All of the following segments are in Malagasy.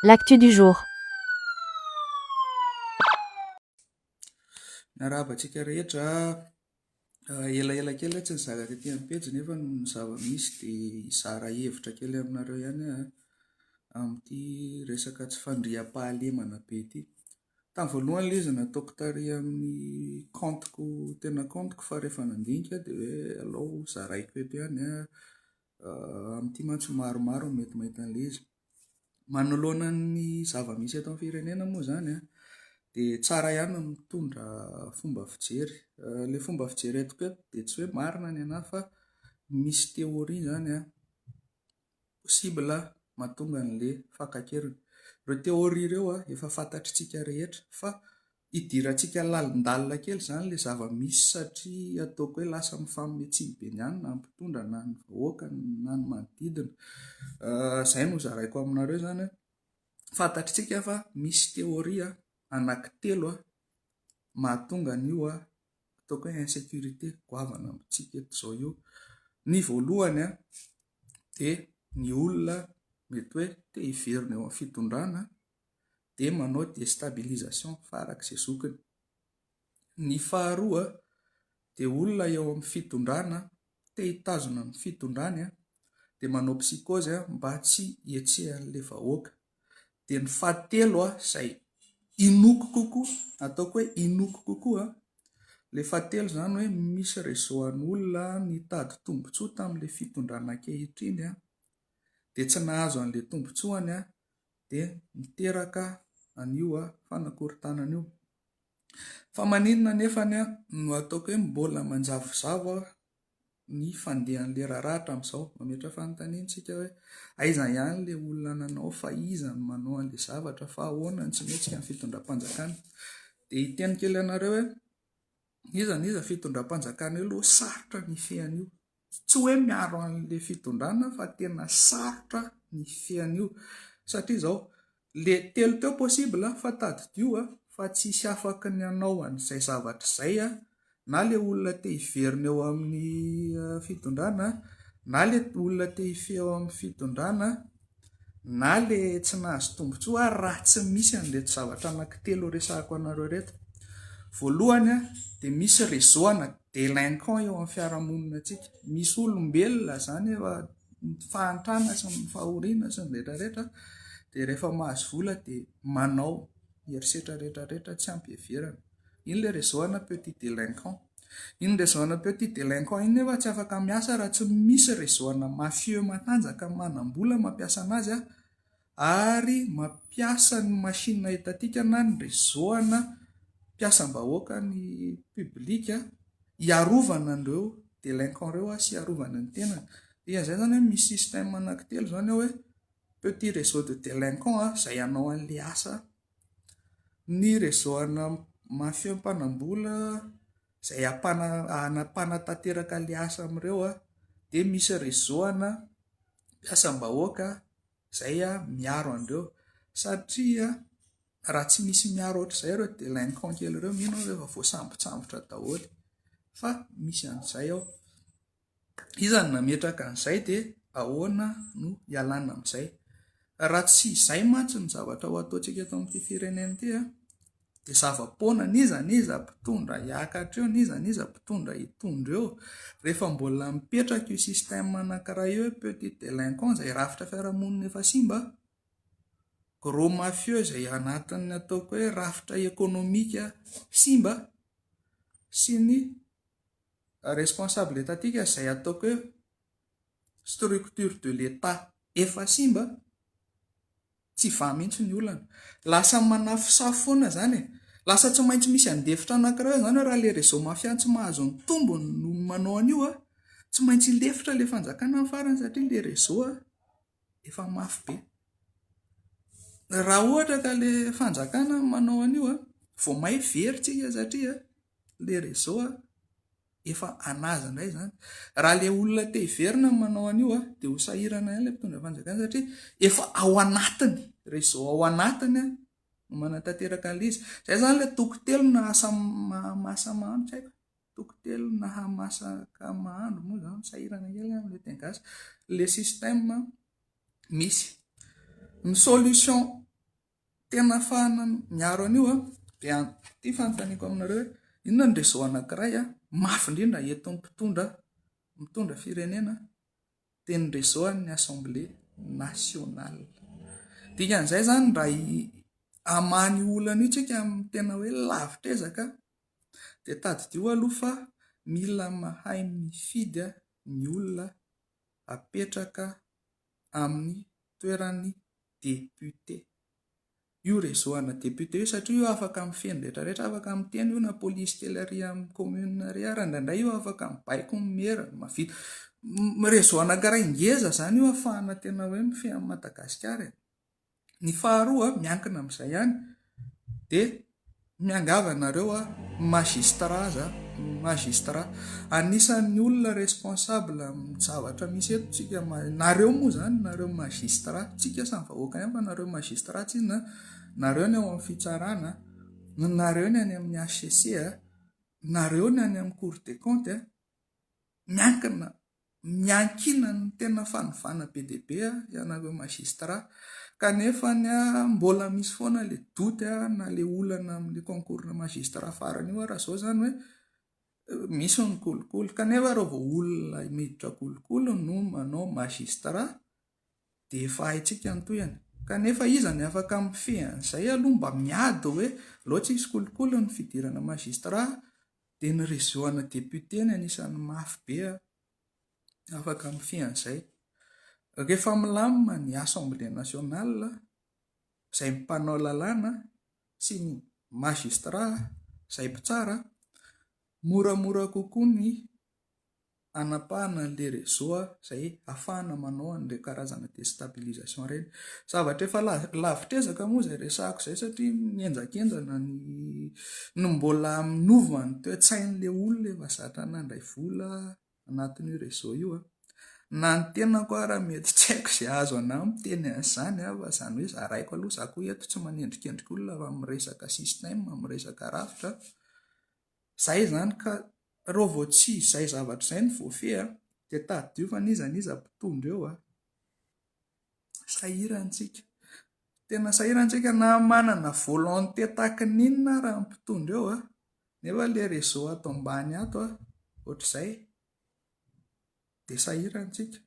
L'actu du jour. Miarahaba antsika rehetra, elaela kely aho tsy nizara tety amin'ny pejy nefa ny zava-misy dia hizara hevitra kely aminareo ihany aho amin'ity resaka tsy fandriampahalemana be ity. Tamin'ny voalohany ilay izy nataoko tary amin'ny kaontiko tena kaontiko fa rehefa nandinika aho dia hoe alao zaraiko eto ihany an. Amin'ity mantsy maromaro no mety mahita an'ilay izy. Manoloana ny zava-misy eto amin'ny firenena moa izany dia tsara ihany ny mitondra fomba fijery. Ilay fomba fijery entiko eto dia tsy hoe marina ny anà fa misy théorie izany possible mahatonga an'ilay fakan-keriny. Ireo théorie ireo efa fantatr'itsika rehetra fa Hidirantsika lalindalina kely izany ilay zava-misy satria ataoko hoe lasa mifamin'ny Antsimo-Benianina ny mpitondra na ny vahoaka na ny manodidina. Izay no zaraiko aminareo izany hoe fantatritsika fa misy théorie anankitelo mahatonga an'io ataoko hoe insécurité goavana amintsika eto izao io. Ny voalohany dia ny olona mety hoe te hiverina eo amin'ny fitondrana dia manao destabilisation farak'izay zokiny. Ny faharoa dia olona eo amin'ny fitondrana te hitazona ny fitondrany dia manao psychose mba tsy hihetsehan'ilay vahoaka. Dia ny fahatelo izay inoako kokoa, ataoko hoe inoako kokoa, ilay fahatelo izany hoe misy réseau an'olona nitady tombontsoa tamin'ilay fitondrana ankehitriny dia tsy nahazo an'ilay tombontsoany dia miteraka an'io fanakorontanana io. Fa maninona anefa no ataoko hoe mbola manjavozavo ny fandehan'ilay raharaha hatramin'izao? Mametra fanontaniana isika hoe aiza ihany ilay olona nanao, fa iza no manao an'ilay zavatra, fa ahoana ny tsy mihetsika ny fitondram-panjakana? Dia hiteny kely anareo hoe iza na iza fitondram-panjakana eo aloha sarotra ny hifehy an'io. Tsy hoe miaro an'le fitondrana fa tena sarotra ny fe an'io satria izao, le telo teo possible fa tadidio a, fa tsy hisy afaky ny hanao an'izay zavatra izay a, na le olona te hiverina eo amin'ny fitondrana, na le olona te hifehy eo amin'ny fitondrana, na ilay tsy nahazo tombontsoa ary raha tsy misy an'ireto zavatra anankitelo resahako anareo ireto. Voalohany dia misy réseau ana délinquant eo amin'ny fiarahamonina antsika. Misy olombelona izany efa fahantrana sy ny fahoriana sy ny rehetra rehetra dia rehefa mahazo vola dia manao herisetra rehetra rehetra tsy ampiheverana. Iny ilay réseau ana petit délinquant. Iny réseau ana petit délinquant iny nefa tsy afaka miasa raha tsy misy réseau ana mafieux matanjaka manam-bola mampiasa anazy ary mampiasa ny machine étatique na ny réseau ana mpiasam-bahoaka ny public hiarovana an'ireo délinquant ireo sy hiarovana ny tenany. Dikan'izay izany hoe misy système anankitelo izany ao hoe petit réseau de délinquant izay hanao an'ilay asa Ny réseau ana mafieux mpanam-bola izay hampana- hanampanatanteraka ilay asa amin'ireo dia misy réseau ana mpiasam-bahoaka izay miaro an'ireo satria raha tsy misy miaro ohatr'izay ireo délinquants kely ireo mino aho fa efa voasambotsambotra daholo fa misy an'izay ao. Iza no nametraka an'izay dia ahoana no hialana amin'izay? Raha tsy izay mantsy ny zavatra ho ataontsika eto amin'ity firenena ity dia zava-poana, n'iza n'iza mpitondra hiakatra eo, n'iza n'iza mpitondra hitondra eo, rehefa mbola mipetraka io système anankiray eo hoe petit délinquant izay rafitra fiarahamonina efa simba, gros mafieux izay anatin'ny ataoko hoe rafitra ekonomika simba sy ny. responsable etatika izay ataoko hoe structure de l'etat efa simba tsy va mihitsy ny olana lasa manafosafo foana izany e lasa tsy maintsy misy andefitra anankiray izany hoe raha le réseau mafia tsy mahazo ny tombony no manao an'io a tsy maintsy hilefitra le fanjakana ny farany satria le réseau a efa mafy be. Raha ohatra ka ilay fanjakana no manao an'io, vao may very tsika satria ilay réseau efa an'azy indray izany. Raha ilay olona te hiverina no manao an'io dia ho sahirana ihany ilay mpitondra fanjakana satria efa ao anatiny, réseau ao anatiny no manatanteraka an'ilay izy. Izay izany ilay toko telo na asa mahasamahana, tsy haiko. toko telo na hamasaka mahandro moa izany sahirana kely an le teny gasy le système misy ny solution tena afahana miaro an'io an dia ity fanontaniako aminareo hoe inona ny réseau anankiray an mafy indrindra eto ny mpitondra mitondra firenena dia ny réseau an'ny assemblée nationale dikan'izay zany raha amany olana io tsika amin'ny tena hoe lavitrezaka Dia tadidio aloha fa mila mahay mifidy ny olona apetraka amin'ny toeran'ny député io réseau ana député io satria io afaka mifehy ny rehetra rehetra, afaka miteny io na police kely ary amin'ny commune ary ary indraindray io afaka mibaiko ny maire mahavita réseau anankiray ngeza izany io afahana tena hoe mifehy an'i Madagasikara e. Ny faharoa, miankina amin'izay ihany, dia miangavy anareo magistrat, magistrat, anisan'ny olona responsable amin'ny zavatra misy eto tsika, nareo moa izany, nareo magistrat, tsy tsika samy vahoaka ihany fa nareo magistrat tsy inona, nareo ny ao amin'ny fitsarana, nareo ny any amin'ny HCC, nareo ny any amin'ny cour des comptes, miankina miankinan ny tena fanovana be dia be ianareo magistrat kanefa ny mbola misy foana le doute na le olana amin'ny concours na magistrat farany io raha zao zany hoe misy ny kolikoly kanefa raha vao olona miditra kolikoly no manao magistrat dia efa haintsika ny tohany kanefa iza ny afaka mifehy an'izay aloha mba miady hoe loatra izy kolikoly ny fidirana magistrat Dia ny réseau ana député ny anisan'ny mafy be an! Afaka mifehy an'izay. Rehefa milamina ny assemblée nationale, izay mpanao lalàna sy ny magistrats izay mpitsara, moramora kokoa ny hanapahana an'ilay réseau izay hahafahana manao an'ireny karazana déstabilisation ireny. Zavatra efa lavitr'ezaka moa izay resahako izay satria mihenjakenjana ny ny mbola minova ny toe-tsain'ilay olona efa zatra nandray vola anatin'io réseau io. Na ny tenako ara mety tsy haiko izay azo anà miteny an'izany an, fa izany hoe zaraiko aloha za koa eto tsy manendrikendrika olona fa miresaka système, miresaka rafitra. Zay zany ka, reo vao tsy izay zavatra izay no voafehy a, dia tadidio fa n'iza n'iza mpitondra eo a. Sahirantsika. Tena sahirantsika na manana volonté tahaka ny inona ara ny mpitondra eo a, nefa le réseau ato ambany ato a, ohatr'izay, dia sahirantsika,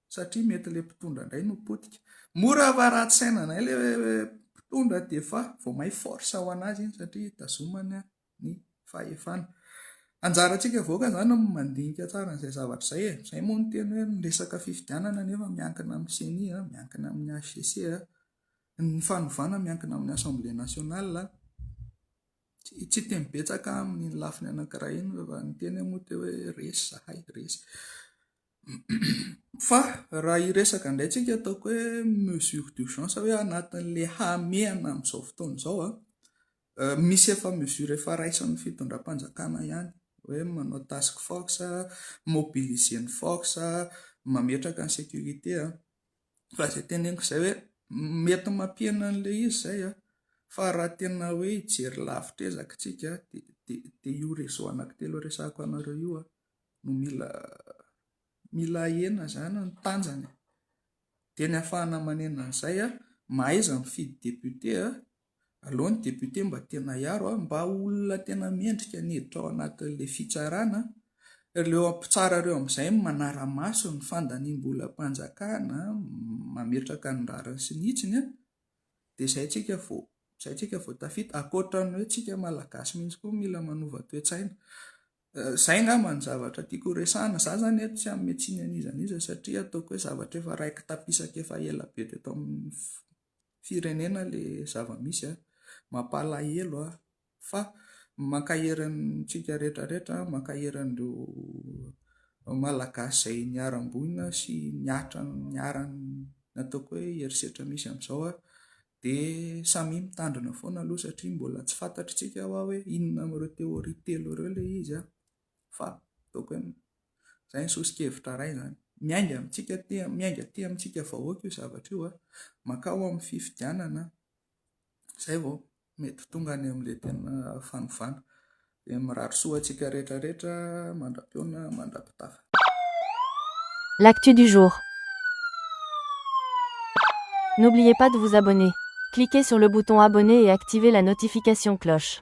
satria mety le mpitondra indray no potika. Mora fa ratsy saina indray le mpitondra dia efa vao may force ho an'azy iny satria tazomany a. ny fahefana. Anjarantsika avoaka izany ny mandinika tsara an'izay zavatra izay e. Izay moa ny teny hoe ny resaka fifidianana nefa miankina amin'ny ceni, miankina amin'ny HCC, ny fanovana miankina amin'ny assemblée nationale. Tsy tsy teny betsaka amin'iny lafiny anankiray iny fa ny teny moa dia hoe resy izahay, resy. Fa raha hiresaka indray tsika ataoko hoe mesure d'urgence hoe anatin'ilay hamehana amin'izao fotoana izao an, Misy efa mesure efa raisin'ny fitondram-panjakana ihany hoe manao task force, mobiliser ny force, mametraka ny sécurité an! Fa izay teneniko izay hoe mety mampihena an'ilay izy izay an! Fa raha tena hoe hijery lavitra ezaka isika dia io réseau anankitelo resahiko anareo io an! No mila mila ahena izany ny tanjany e! Dia ny hahafahana manena an'izay an! Mahaiza mifidy député an! Aleo ny député mba tena hiaro a, mba olona tena mendrika ny hiditra ao anatin'ilay fitsarana a, ireo mpitsara ireo amin'izay no manara-maso ny fandaniam-bolam-panjakana, mametraka ny rariny sy ny hitsiny a, dia izay tsika vao, izay tsika vao tafita, ankoatra ny hoe tsika malagasy mihitsy koa mila manova toe-tsaina. Izay angamba ny zavatra tiako horesahana, za zany eto tsy hanome tsiny an'iza n'iza satria ataoko hoe zavatra efa raikitapisaka efa ela be teto amin'ny. firenena le zava misy a! Mampalahelo a! Fa mankahery antsika rehetra rehetra a! Mankahery an'ireo Malagasy izay niharam-boina sy nihatra niharan'ny ataoko hoe herisetra misy amin'izao a! Dia samia mitandrina foana aloha satria mbola tsy fantatr'itsika hoa hoe inona amin'ireo théorie telo ireo le izy a! fa ataoko hoe izay ny soso-kevitra iray izany. Miainga amintsika aty, miainga aty amintsika vahoaka io zavatra io, mankao amin'ny fifidianana izay vao mety ho tonga any amin'ilay tena fanovana. Dia mirary soa antsika rehetra rehetra mandra-pihaona mandra-pitafa. L'actu du jour N'oubliez pas de vous abonner. Cliquez sur le bouton abonner et activez la notification cloche.